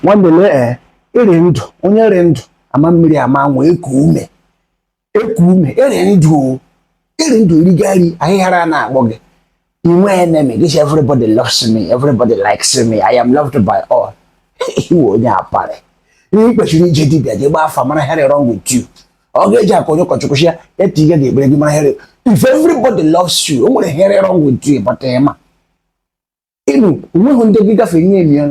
nwanne lee ee ị rị ndụ onye rị ndụ ama mmiri ama anwụ eku ume eku ume ị rị ndụ ọ rị ndụ erigari ahịhara na-akpọ gị inwe enemy gị sị everybody loves me everybody likes me i am loved by all ị wụ onye apari ihe i kwesịrị ije dibịa jee gbaa afa mara ihe rị wrong with you ọ ga-eji aka onye ụkọchukwu sị ya etu ihe ga-egbere gị mara ihe rị if everybody loves you o nwere ihe rị wrong with you but ị ma ịnụ o nweghị ndị gị gafee nye emi ya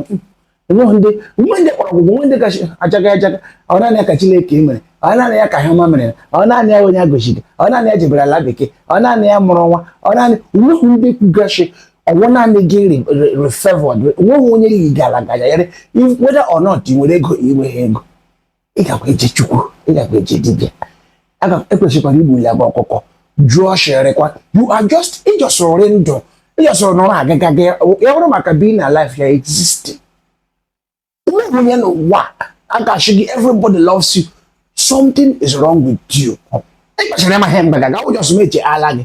o nweghị ndị o nwe ndị kpọrọ gị ụgwụ o nwe ndị kachi ajaga ajaga ọ naanị ya ka Chineke mere ọ naanị ya ka ihe ọma mere ọ naanị ya onye agọchiri ọ naanị ya jebere ala bekee ọ naanị ya mụrụ nwa ọ naanị o nweghị ndị kwuga shị ọ wụ naanị gị rị favored o nweghị onye yi gị ala gajagharị whether or not ị nwere ego ị nweghị ego ị gakwa eje chukwu ị gakwa eje dibịa aga ekwesịkwara igbuli agba ọkụkọ jụọ shịrịkwa you are just ị just rị ndụ ị just nọrọ agaga gị ya bụrụ maka being alive you're existing ume onye n'ụwa a ga-ashị gị everybody loves you something is wrong with you i kwesịrị ịma ihe mgbe gaga ụjọsọ m eche ala gị